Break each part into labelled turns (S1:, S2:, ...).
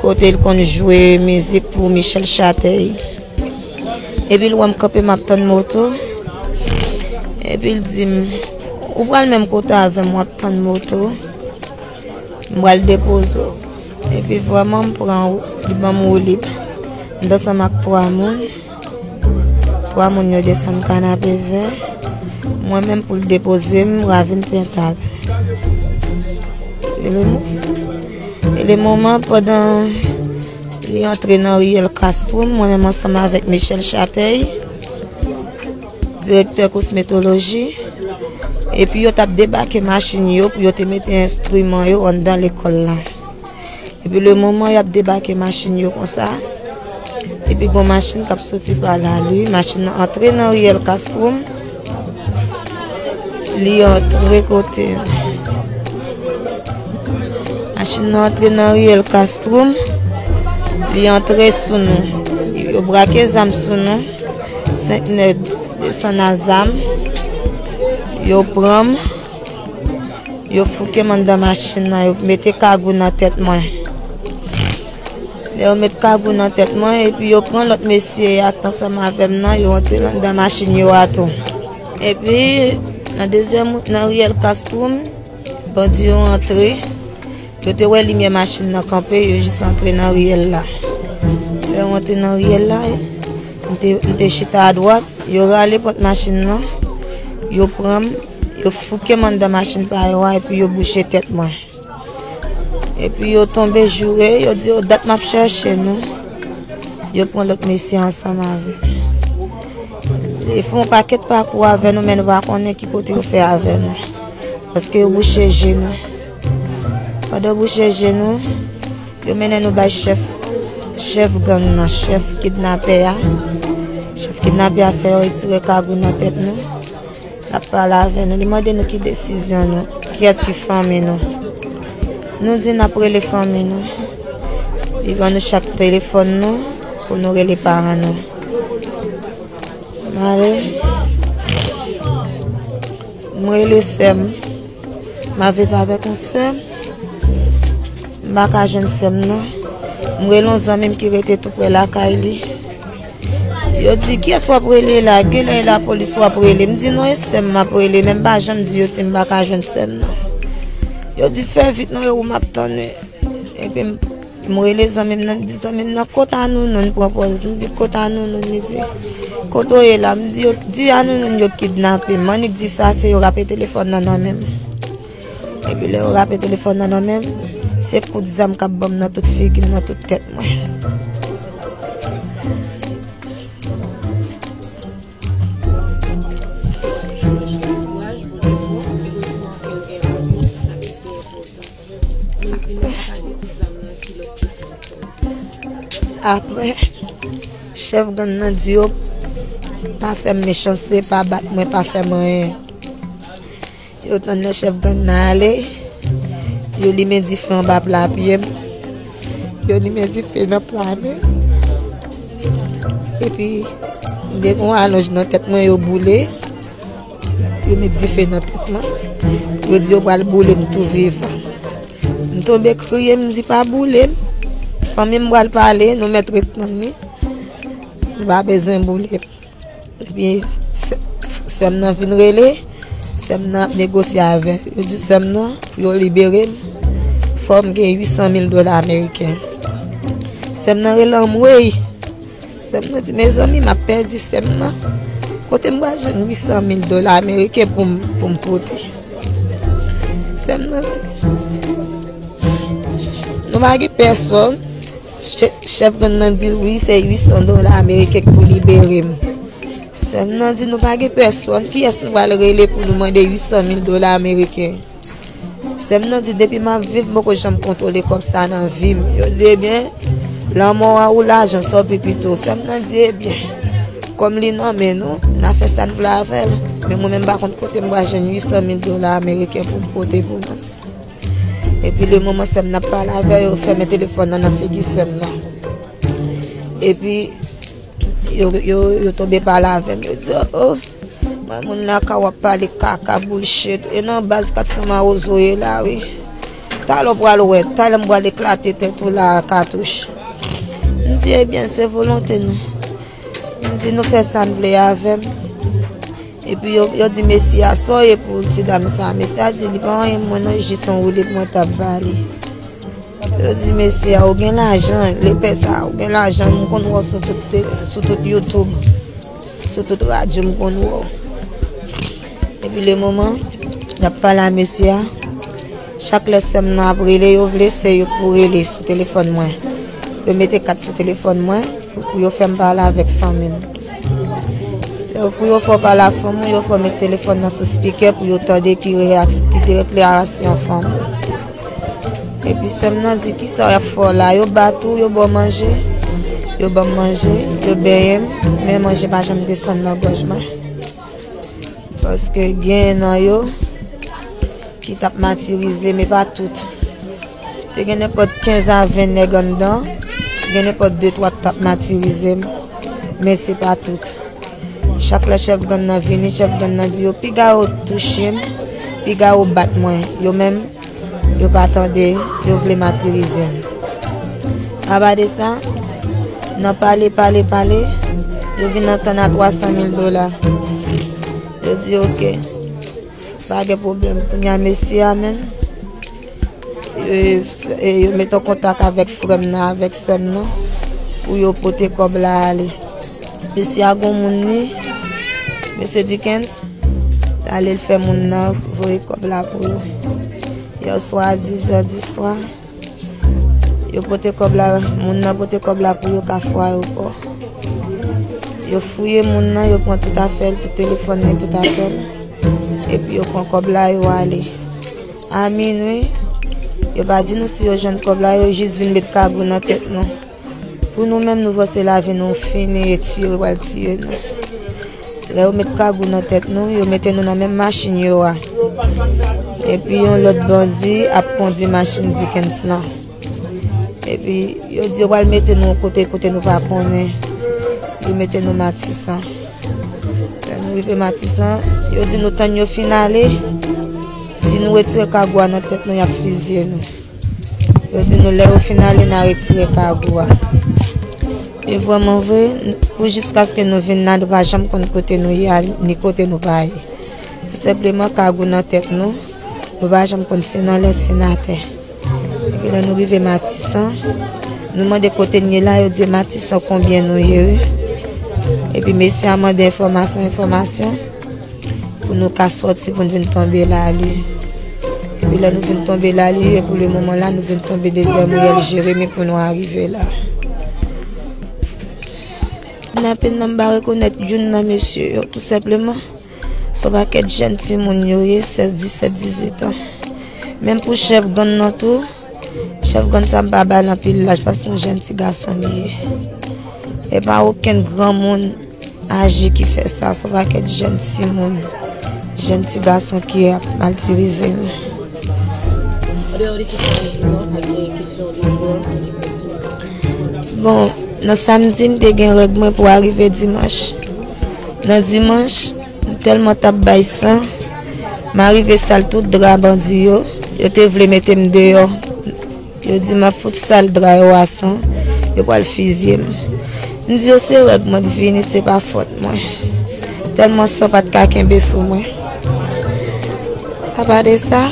S1: Kote l konn jwe mizik pou Michel Chatey Epi l wè m kanpe m ap tann moto Epi l di m Ou pral menm kote avè m w ap tann moto M pral depoze w Epi vwa m an m pran wout Li ban m woulib M t ansanm ak 3 moun 3 moun yo desann kanape vè mwen menm pou l depoze m ravin pental e le moman pandan li antre nan riyèl kastro mwen menm ansanm avèk michèl chatèy direktè kosmetoloji epi yo tap debake machin yo pou yo te mete enstriman yo anndan lekòl la Epi le moman yap debake machin yo konsa, epi gon machin kap soti pa la li, machin nan antre nan riyèl Kastwom, li antre kote, machin nan antre nan riyèl Kastwom, li antre sou nou, yo brake zam sou nou, 5 nèd desan nan zam, yo pranm. Yo fouke m anndan machin nan, yo mete kagou nan tèt mwen. Lè yo met kagou nan tèt mwen, epi yo pran lòt mesye a k ansanm avè m nan, yo antre anndan machin yo a tou. Epi, nan dezyèm, nan riyèl Kastwoum, bandi yo antre, yo te wè limyè machin nan kanpe, yo jis antre nan riyèl la. Lè yo antre nan riyèl la, m te chita adwat, yo rale pòt machin nan, yo pran m. Yo fouke m anndan machin pa yo a epi yo bouche tèt mwen. Epi yo tonbe joure, yo di yo dat m ap chèche nou. Yo pran lòt mesye ansanm avè m. Yo fè yon pakèt pakou avè nou men nou pa konnen ki kote yo fè avè nou. Paske yo bouche je nou. Pandan yo bouche je nou, yo mennen nou bay chèf, chèf gang nan, chèf kidnapè a. Chèf kidnapè a fè yo retire kagou nan tèt nou. Lap pale avè nou, li mande nou ki desizyon nou, kiyès ki fanmi nou. Nou di nap rele fanmi nou. Li ban nou chak telefòn nou pou nou rele paran nou. Mare. Mwen rele sèm. Ma viv avè kon sèm. Maka jèn sèm nan. Mwen rele yon zanmim ki rete tou pre lakay li. Yo di, kiyès w ap rele la? Genlè e lapolis w ap rele. M di, non e sè m m ap rele, men m pa janm di yo si m pa ka jwenn sè m nan. Yo di, fè vit non e ou m ap tann e. Epi m rele zanmi m nan, m di zanmi m nan, kot Anounou? Li pran pòz, li di, kot Anounou? Li di, kote w ye la? M di, di Anounou yo kidnape m. Annik di sa, se yo rape telefòn nan nan men m. Epi lè yo rape telefòn nan nan men m, se kout zam k ap ban m nan tout figi m, nan tout tèt mwen. Apre, chèf gang nan di yo pa fè m mechanste, pa bat mwen, pa fè m anyen. Yo tann lè chèf gang nan ale, yo limen dife anba pla pye m, yo limen dife nan pla men m. Epi, m gen yon alonj nan tèt mwen yo boule, yo met dife nan tèt mwen, yo di yo pral boule m tou vivan. M tonbe kriye, m di pa boule m, fanmi m pral pale, nou mèt ret tann li, nou pa bezwen boule m. Epi sè m nan vin rele, sè m nan ap negosye avè l. Yo di sè m nan pou yo libere m, fò m gen 800 mil dola ameriken. Sè m nan rele anmwey! Sè m nan di mezanmi m ap pèdi sè m nan. Kote m pral jwenn 800 mil dola ameriken pou m pote? Sè m nan di nou pa gen pèsòn. Chèf gang nan di l wi se 800 dola ameriken k pou libere m. Sè m nan di nou pa gen pèsòn kiyès nou pral rele pou nou mande 800 mil dola ameriken. Sè m nan di depi m ap viv m poko janm kontwole kòb sa nan vi m. Yo di ebyen lanmò a ou lajan sa ou pi pito. Sè m nan di ebyen kòm li nan men nou n a fè sa n vle avè l men mwen menm m pa konn kote m pral jwenn 800 mil dola ameriken pou m pote pou nou. Epi le moman sèm nan ap pale avè yo, yo fèmen telefòn nan nan figi sèm nan. Epi yo tonbe pale avèm, yo di, o, mwen moun la ka wap pale kaka boulchet, e nan baz 400 mawozo ou ye la wi. Talè ou pral wè, talè m pral eklate tèt ou la a katouch. M di, ebyen se volonte nou. Nou di nou fè sa n vle avè m. Epi yo di mesye a, sa w ye pou ti dam sa a? Mesye a di, li pa anyen pou mwen non, jis yon woulib mwen t ap ba li. Yo di mesye a, ou gen lajan, lepè sa a, ou gen lajan, m konn wè w sou tout YouTube, sou tout radyo m konn wè w. Depi le moman yap pale a mesye a, chak lè sèm nan ap rele yo vle se yo k pou rele sou telefòn mwen. Yo mete kat sou telefòn mwen pou yo fè m pale avèk fanmi m. Lè pou yo fè w pale ak fanmi w, yo fè w met telefòn nan sou spikè pou yo tande ki deklarasyon fanmi w. Epi sè m nan di kisa yap fè w la, yo bat ou, yo ba w manje, yo ban m manje, yo benyen m, men manje pa janm desann nan gòj mwen. Paske gen nan yo ki tap matirize men pa tout. Te gen nenpòt 15 a 20 nèg anndan, gen nenpòt 2 3 ki tap matirize m, men se pa tout. Chak lè chèf gang nan vini, chèf gang nan di yo piga yo touche m, piga yo bat mwen. Yo menm Yo pa tande, yo vle matirize m. Aba de sa, nan pale, pale, pale, yo vin antann a 300 mil dola. Yo di ok, pa gen pwoblèm. Kounye a mesye a menm, yo met an kontak avèk frè m nan, avèk sè m nan, pou yo pote kòb la ale. Mesye a gon moun li. Mesye Dickens. Lale l fè moun nan voye kòb la pou yo. Yèswa a 10 zè di swa. Yo pote kòb la. Moun nan pote kòb la pou yo ka fwa yo kò. Yo fouye moun nan. Yo pran tout afèl. Tout telefon li tout afèl. E pi yo pran kòb la yo ale. A minwi. Yo pa di nou si yo jwenn kòb la. Yo jis vin met kagou nan tèt nou. Pou nou menm nou panse lavi nou fini e tiye yo pral tiye nou. Lè yo met kagou nan tèt nou, yo mete nou nan menm machin yo a. Epi yon lòt bandi ap kondi machin Dikens lan. Epi yo di yo pral mete nou yon kote, kote nou pa konnen. Yo mete nou Matisan. Lè nou rive Matisan, yo di nou tann yo fin ale. Si nou retire kagou a nan tèt nou, y ap fizye nou. Yo di nou lè yo fin ale na retire kagou a. E vwèman vwe, pou jiskaske nou vin nan, nou pa janm konn kote nou ye, ni kote nou pa ye. Tou sepleman kagou nan tèt nou, nou pa janm konn si nan lè, si nan tè. E pi lè nou rive matisan, nou mande kote nou ye la, yo di matisan konbyen nou ye. E pi mesye a mande enfomasyon, enfomasyon. Pou nou ka soti pou nou vin tonbe la li. Epi la nou vin tonbe la li e pou le moman la nou vin tonbe dezyèm riyèl Jeremi pou nou arive la. Nan pen nan mba rekonèt youn nan mesye yo tout sepleman. Son pa ket jen ti moun yo ye 16, 17, 18 an. Menm pou chèf gang nan tou. Chef gang sa mpa bay l anpil laj paske yon jèn ti gason li ye. E pa okenn granmoun aje ki fè sa, son pakèt jèn ti moun, jèn ti gason ki ap maltirize nou. Bon, nan samdi m te gen règ mwen pou arive dimanch. Nan dimanch. M telman tap bay san. M arive sal tout dra bandi yo. Yo te vle mete m deyò. Yo di m ap fout sal dra yo a san. Yo pral fizye m. M di yo se règ mwen k vini se pa fòt mwen. Telman san pat ka kenbe sou mwen. Apa de sa.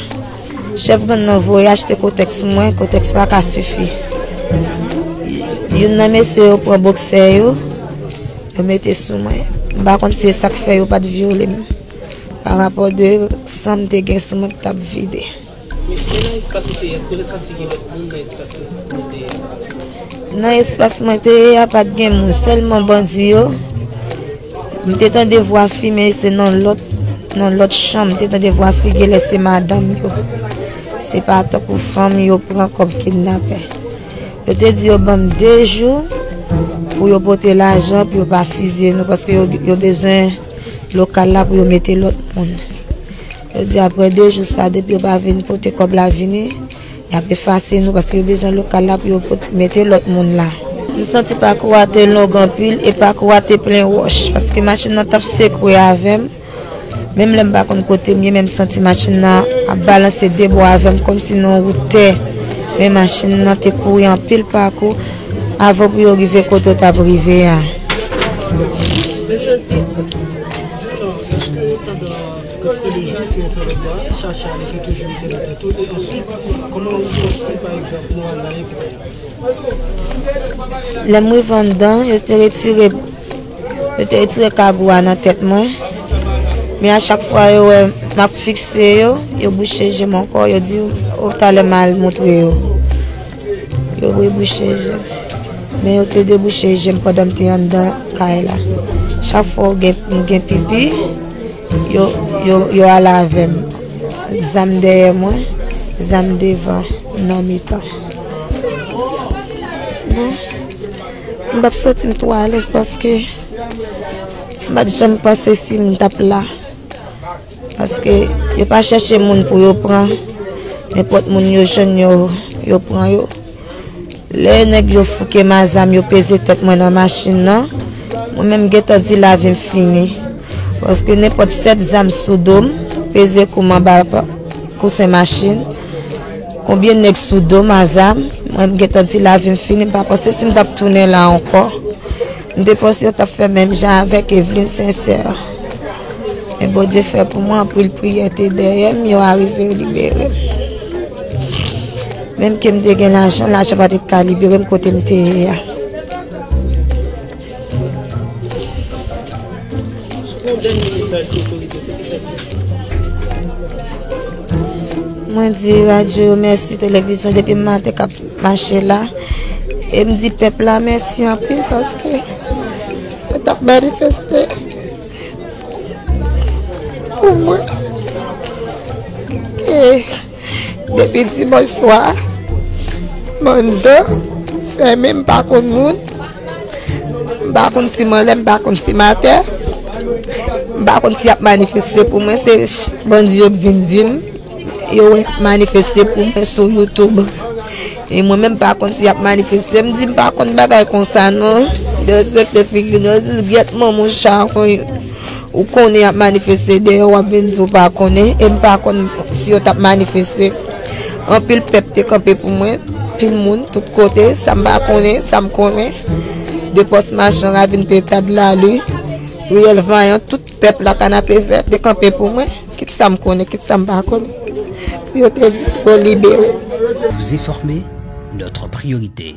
S1: Chèf gang nan voye achte kotèks mwen, kotèks pa ka sifi. Youn nan mesye yo pran boksè yo, yo mete sou mwen. M pa konn se sak fè yo pa te vyole m. Pa rapò de san m te gen sou mwen ki t ap vide. Nan espas mwen te ye a pa t gen moun, sèlman bandi yo. M te tande vwa fi men se nan lòt nan lòt chanm m te tande vwa fi genlè se madanm yo se pa tankou fanm yo pran kòm kidnapè yo te di yo banm 2 jou pou yo pote lajan pou yo pa fizye nou paske yo bezwen lokal la pou yo mete lòt moun yo di aprè 2 jou sa depi yo pa vin pote kòb la vini Y ap efase nou paske yo bezwen lokal la pou yo pot mete lòt moun la. M santi pakou a te long anpil e pakou a te plen wòch paske machin nan t ap sekwe avè m. Menm lè m pa konn kote m ye men m santi machin nan ap balanse de bò avè m kòmsi nan yon wout tè. Men machin nan te kouri anpil pakou avan pou yo rive kote yo t ap rive a.
S2: Kantite de jou ke yo fè lòt la, chache a li fè toujou mete nan tèt ou e answit kòman ou fè si pa egzanp mwa a gaye pou ou. Lè m rive anndan,
S1: yo te retire yo te retire kagou a nan tèt mwen. Men a chak fwa yo wè m ap fikse yo, yo bouche je m ankò, yo di ou talè m al montre yo. Yo ri bouche je m. Men yo te debouche je m pandan m te anndan kay la. Chak fwa m gen pipi, yo ale avè m. Zam dèyè mwen, zam devan, m nan mitan. Non, m pa t santi m twò alèz paske m pa t janm panse si m t ap la. Paske yo pa chèche moun pou yo pran, nenpòt moun yo jwenn yo, yo pran yo. Lè nèg yo fouke m a zam, yo peze tèt mwen nan machin nan, mwen menm m gentan di lavi m fini. Paske nenpòt sèt zam sou do m, peze kou m anba kousen machin, konbyen nèg sou do m a zam, mwen m gentan di lavi m fini, m pa panse si m t ap tounen la ankò. M te panse yo tap fè menm jan avèk Evelyne Sincère men Bondye fè pou mwen anpil priyè te dèyè m yo arive yo libere m menm ke m te gen lajan lajan pa te ka libere m kote m te ye a. Mwen di radyo yo mèsi televizyon depi m maten kap. mache la e m di pèp la mèsi anpil paske yo tap manifeste pou mwen e depi dimanch swa mwen do fèmen m pa konn moun m pa konn si m anlè m pa konn si m atè m pa konn si yap manifeste pou mwen se bandi yo k vin di m Yo wè manifeste pou mwen sou YouTube. E mwen menm pa konn si ap manifeste. M di m pa konn bagay konsa non. De respekte figi nou. Yo di gyèt man mou charon. Ou konnen ap manifeste de yo wap vin di ou pa konnen. E m pa konn si yo tap manifeste. Anpil pèp te kanpe pou mwen. Pil moun tout kote. Sa m pa konnen. Sa m konnen. De pos machan ravin petad la li. Riyèl vanyan tout. Pèp la Kanapevè te kanpe pou mwen, kit sa m konnen, kit sa m pa konnen, pou yo te di pou
S3: yo
S1: libere m. Vous informer, notre
S3: priorité.